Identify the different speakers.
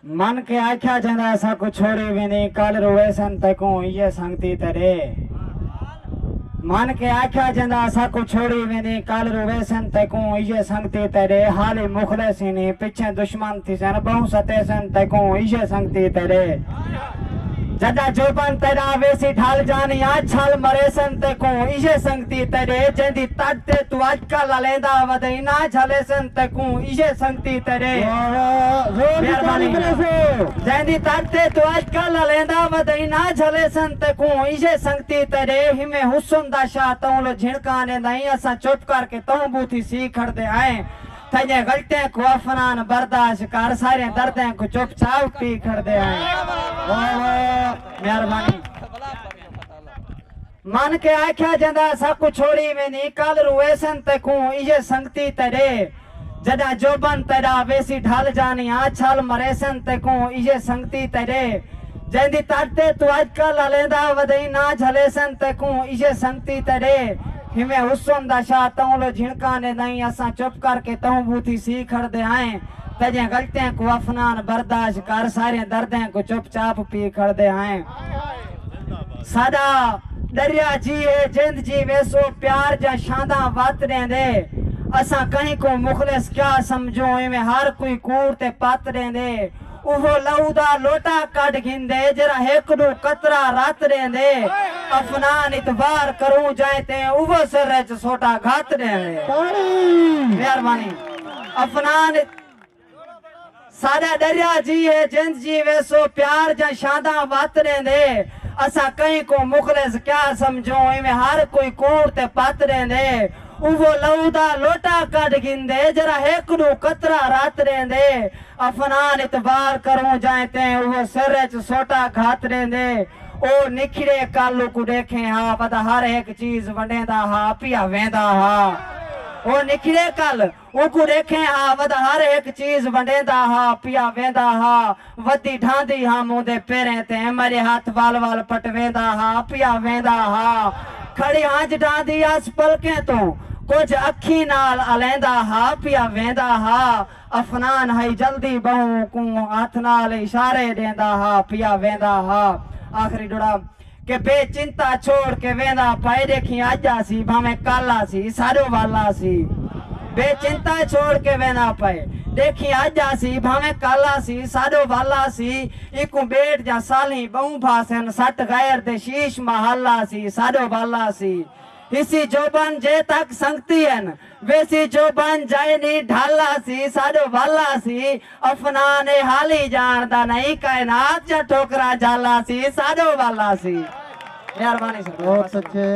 Speaker 1: من کے آکھیا جیندا اساں کوں چھوڑی ویندیں کل رویسن تیکوں ایہے سنگتی تے ݙے من کے آکھیا جیندا اساں کوں چھوڑی ویندیں کل رویسن تیکوں ایہے سنگتی تے ݙے حالی مخلص ہینی پچھیں دشمن تھیسن ٻہوں ستیسن تیکوں ایہے سنگتی تے ݙے۔ جڈاں جوبن تیڈا ویسی ڈھل جانیاں چھل مریسن تیکوں ایہے سنگتی تیڈے جیندی تڈ تے توں اج کل الیندا ودیناں جھلیسن تیکوں ایہے سنگتی تیڈے مہربانی جیندی تڈ تے توں اج کل الیندا ودیناں جھلیسن تیکوں ایہے سنگتی تیڈے ہیویں حسن دا شاہ توں لو جھنکاں ڈیندائیں اساں چپ کر کے توں بوتھی سی کھڑدے ہائیں تھیے غلطیں کوں افنان برداشت کر ساریں دردیں کوں چپ چاپ پی کھڑدے ہیں واہ واہ مہربانی من کے آکھیا جندا سب کو چھوڑی ویندی کل رو ایسن تے کوں ایے سنگتی تے ڈے جدا جوبن تیڈا ویسی ڈھل جانی آ چھل مریسن تے کوں ایے سنگتی تے ڈے جیندی تڈ تے تو اج کل الیندا ودیں نہ جھلیسن تے کوں ایے سنگتی تے ڈے ہیویں حسن دا شاہ تہوں لو جھنکاں دے دائیں اساں چپ کر کے تہوں بوتھی سی کھڑدے ہائیں تجھیں غلطیں کوں افنان برداشت کر ساریں دردیں کوں چپ چاپ پی کھڑدے ہائیں ساڈا ڈریا جی ہے جند جی ویسو پیار جاں شانداں وت ڈیندے اساں کہیں کوں مخلص کیا سمجھوں ایویں ہر کوئی کوڑ تے پت ڈیندے اوہو لہو دا لوٹا کڈھ گھندے جیرھا ہک ڈو قطرہ رت ڈیندے افنان ات وار کروں جائیں تے اوہو سر اچ سوٹا گھت ڈیندے۔ مہربانی افنان ات ساڈا ڈریا جی ہے جند جی ویسو پیار جاں شانداں وت ڈیندے اساں کہیں کوں مخلص کیا سمجھوں ایویں ہر کوئی کوڑ تے پت ڈیندے اوہو لہو دا لوٹا کڈھ گھندے جیرھا ہک ڈو قطرہ رت ڈیندے افنان اتے وار کروں جائیں تیں اوہ سر اچ سوٹا گھت ڈیندے۔ او نکھڑے کالو کوں ڈیکھیں ہا ودا ہر ہک چیز ونڈیندا ہا پیا ویندا ہا۔ او نکھڑے کل او کوں ڈیکھیں ہا ودا ہر ہک چیز ونڈیندا ہا پیا ویندا ہا۔ ودی ڈھاندی ہم اوندے پیریں تے میڈے ہتھ ول ول پٹویندا ہا پیا ویندا ہا۔ کھڑی ہنج ڈھاندی آس پلکیں توں کجھ اکھیں نال الیندا ہا پیا ویندا ہا۔ افنان ہئی جلدی بہوں کوں ہتھ نال اشارے ڈیندا ہا پیا ویندا ہا آخری ڈوڑا کہ بے چنتا چھوڑ کے ویندا پئے ڈیکھیں اج آسی بھاویں کل آسی ساڈو ول آسی بے چنتا چھوڑ کے ویندا پئے ڈیکھیں اج آسی بھاویں کل آسی ساڈو ول آسی ایکوں بیٹ جاں سالھیں بہوں بھا سن سٹ غیر دے شیش محل آسی ساڈو ول آسی حصی جوبن جے تک سنگتی ہن ویسی جو بن جائے نی ڈھل آسی ساڈو ول آسی افنان اے حالی جان دا نئی کائنات جا ٹھوکرا جھل آسی ساڈو
Speaker 2: ول
Speaker 1: آسی مہربانی سرکار بہت اچھے۔